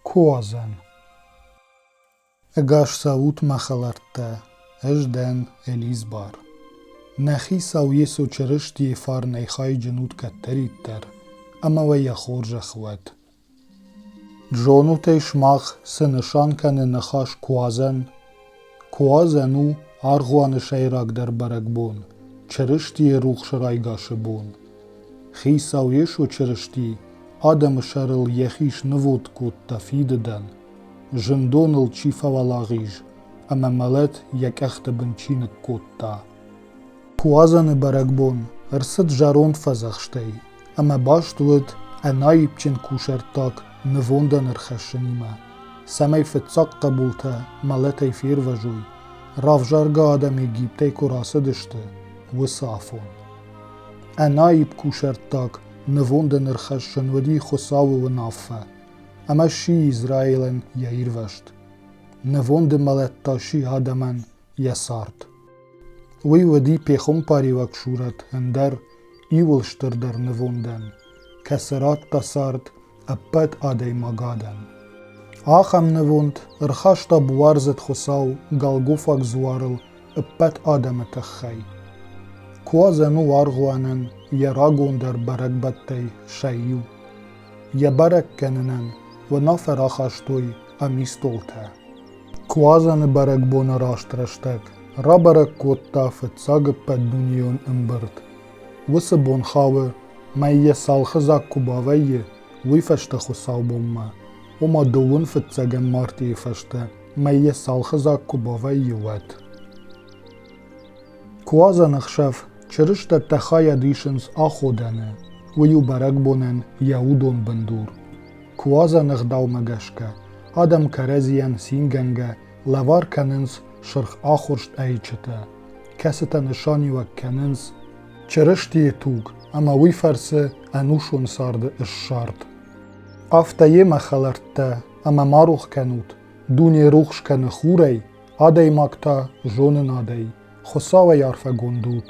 Ко уадзӕн? Ӕгас цӕут, мӕ хӕлӕрттӕ, ӕз дӕн Элизбар. Нӕхи сау Йесо Чырыстийы фарнӕй хайджын ут кӕддӕриддӕр, ӕмӕ уӕ йӕ хорзӕх уӕд. Зонут ӕй сымах цы нысан кӕны ныхас «куадзӕн»? Куадзӕн у аргъуаны сӕйрагдӕр бӕрӕгбон, Чырыстийы рухс райгасы бон. Хицау Йесо Чырысти адӕмы сӕрыл йӕхи снывонд кодта Фидыдӕн, зындоныл чи фӕуӕлагъиз ӕмӕ мӕлӕт йӕ къӕхты бын чи ныккодта. Куадзӕны бӕрӕгбон ӕрцыд зӕронд фӕдзӕхстӕй, ӕмӕ баст уыд ӕнаипджын кусӕрттаг нывондӕн ӕрхӕссынимӕ, цӕмӕй фыццаг хъӕбултӕ мӕлӕтӕй фервӕзой, равзаргӕ адӕм Египтӕй куы рацыдысты, уыцы афон. Ӕнаипп кусӕрттаг нывондӕн ӕрхӕссын уыди Хуыцауы уынаффӕ, ӕмӕ сси Израилӕн йӕ ирвӕзт. Нывонды мӕлӕт та сси адӕмӕн йӕ цард. Уый уыди пехуымпариуӕг сурӕт ӕндӕр, иууыл стырдӕр нывондӕн, кӕцы радта цард ӕппӕт адӕймагадӕн. Ахӕм нывонд ӕрхаста буардзыд хуыцау Голгофаг дзуарыл ӕппӕт адӕмы тыххӕй. Куадзӕн у аргъуанӕн йӕ рагондӕр бӕрӕгбӕттӕй сӕ иу. Йӕ бӕрӕг кӕнынӕн уынаффӕ рахастой ӕмистолтӕ. Куадзӕны бӕрӕгбоны раст рӕстӕг рабӕрӕг кодта фыццаг ӕппӕтдунейон ӕмбырд. Уыцы бон хауы, мӕй йӕ цалхы дзаг куы бавӕййы, уый фӕстӕ хуыцаубонмӕ, ома дыууын фыццӕгӕм мартийы фӕстӕ, мӕй йӕ цалхы дзаг куы бавӕййы, уӕд. Куадзӕн ӕхсӕв чырыстӕттӕ хайад исынц аходӕны, уый у бӕрӕгбонӕн йӕ удон бындур. Куадзӕн ӕгъдаумӕ гӕсгӕ, адӕм кӕрӕдзийӕн цингӕнгӕ лӕвар кӕнынц сырх ахуырст ӕйчытӕ, кӕцытӕ нысаниуӕг кӕнынц Чырыстийы туг ӕмӕ уый фӕрцы ӕнусон царды ссард. Афтӕ йемӕ хӕлӕрттӕ ӕмӕ ма рох кӕнут, дуне рухс кӕны хурӕй, адӕймаг та зонынадӕй, Хуыцауӕй арфӕгонд ут.